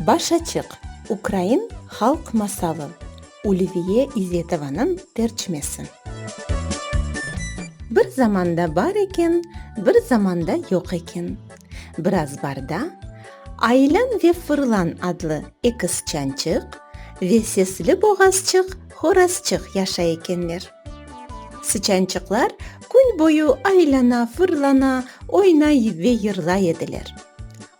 Baş açıq, ukrain halq masalı, Ulviye İzetovanıñ tercimesi. Bir zamanda bar eken, bir zamanda yoq eken. Biraz barda, Aylan ve Fırlan adlı eki sıçançıq ve sesli boğazçıq, horazçıq yaşay ekenler. Sıçançıqlar kün boyu aylana-fırlana, oynay ve yırlay ediler.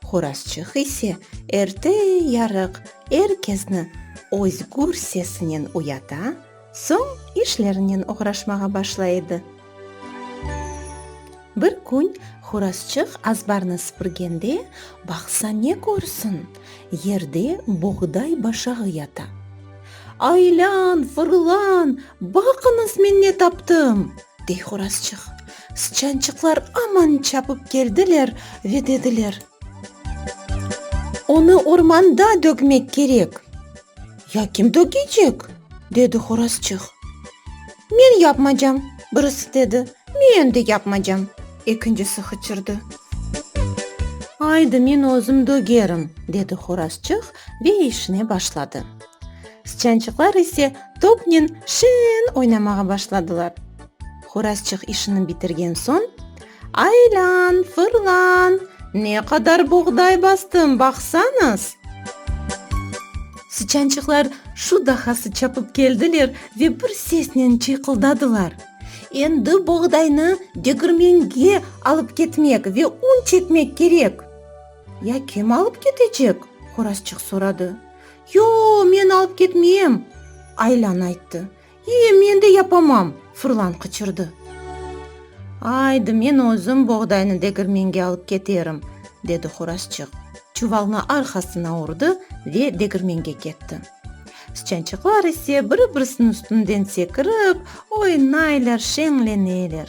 Horazçıq ise erte-yarıq er kesni özgür sesinen uyata, soñ işlerinen oğraşmağa başlay edi. Bir kün horazçıq azbarnı sıpırgende, baqsa ne körsin, yerde boğday başağı yata. Aylan, fırlan, baqıñız men ne taptım! dey horazçıq. Sıçançıqlar aman çapıp keldiler ve dediler. Onı ormanda dögmek kerek. Ya kim dögecek? dedi horazçıq. Men yapmacam, birisi dedi. Men endi yapmacam, ekincisi hıçırdı. Aydı, men özüm dögerim, dedi horazçıq ve işine başladı. Sıçançıqlar ise topnen şirin oynamağa başladılar. Horazçıq işini bitirgen soñ, Aylan, fırlan, ne qadar buğday bastıım, baqsañız! Sıçançıqlar şu dahası çapıp keldiler ve bir sesnen çıyqıldadılar. Endi boğdaynı degirmenge alıp ketmek ve un çekmek kerek. Ya kim alıp ketecek? Horazçıq soradı. Yoq, men alıp ketmeyem! Aylan ayttı. E, men de yapamam! Fırlan qıçırdı. Aydı, men özüm boğdaynı degirmenge alıp keterim! dedi Horazçıq, çuvalnı arqasına urdı ve degirmenge ketti. Sıçançıqlar ise biri-birisiniñ üstünden sekirip, oynaylar, şeñleneler.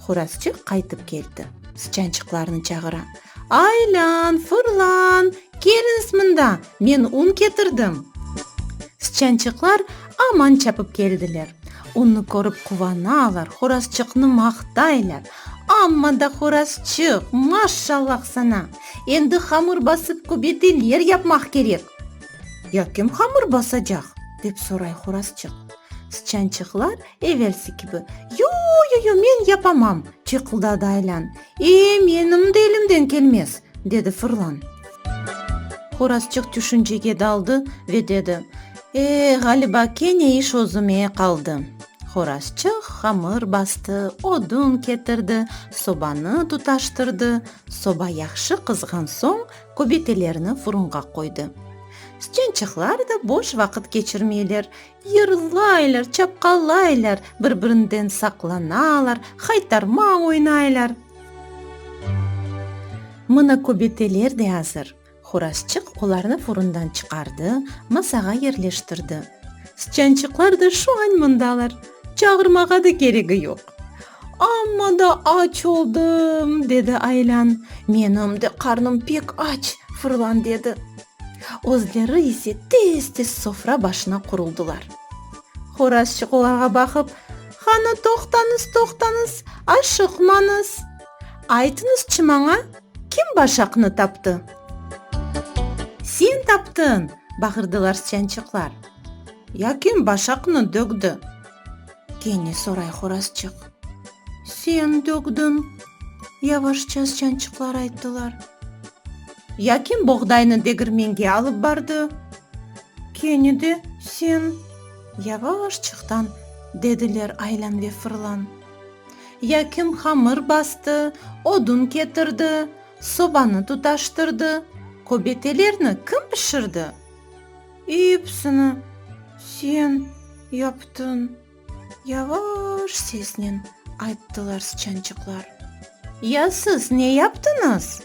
Horazçı qaytıp keldi. Sıçançıqlarnı çağıra. Aylan, fırlan, keliñiz mında, men un ketirdim. Sıçançıqlar aman çapıp keldiler. Unnı körip quvanalar, horazçıqnı maqtaylar. Amma da horazçıq, maşşallah sana! Endi hamır basıp, köbeteler yapmaq kerek! Ya kim hamır basacaq? dep soray Horazçıq. Sıçançıqlar evelsi kibi, Yo-yo-yo, men yapamam! çıyqıldadı Aylan. E, menim de elimden kelmez! dedi Fırlan. Horazçıq tüşüncege daldı ve dedi, E, ğaliba, kene iş özüme qaldı. Horazçıq hamır bastı, odun ketirdi, sobanı tutaştırdı. Soba yahşı qızğan soñ, Köbetelerni furunğa qoydı. Stüençıqlar da boş vaqıt keçirmeyler, yırlaylar, çapqalaylar, bir-birinden saqlanalar, haytarma oynaylar. Mına köbeteler de azır. Hurazçıq olarnı furundan çıqardı, masağa yerleştirdi. Stüençıqlar da şu añ mındalar, çağırmağa da keregi yoq. Amma da aç oldım, dedi Aylan. Menim de qarnım pek aç, Fırlan dedi. Özleri ise tez-tez sofra başına quruldılar. Horazçıq olarğa baqıp, Qanı toqtañız, toqtañız, aşıqmañız. Aytıñızçı maña, kim başaqnı taptı? Sen taptıñ! bağırdılar sıçançıqlar. Ya kim başaqnı dökti? Kene soray Horazçıq. Sen dögdiñ! yavaşça sıçançıqlar ayttılar. Ya kim boğdaynı degirmenge alıp bardı? Kene de sen! yavaşçıqtan dediler Aylan ve Fırlan. Ya kim hamır bastı, odun ketirdi, sobanı tutaştırdı, köbetelerni kim pişirdi? Episini sen yaptıñ! yavaş sesnen ayttılar sıçançıqlar. Ya siz ne yaptıñız?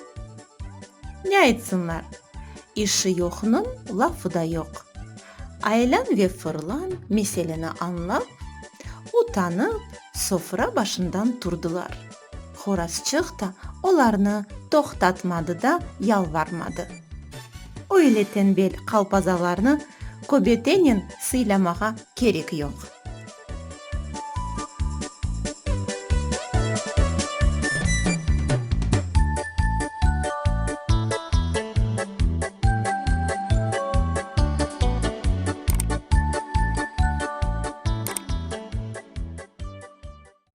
Ne aytsınlar, işi yoqnıñ lafı da yoq. Aylan ve fırlan meseleni añlap, utanıp, sofra başından turdılar. Horazçıq da olarnı toqtatmadı da yalvarmadı. Öyle tenbel qalpazalarnı köbetenen sıylamağa kerek yoq.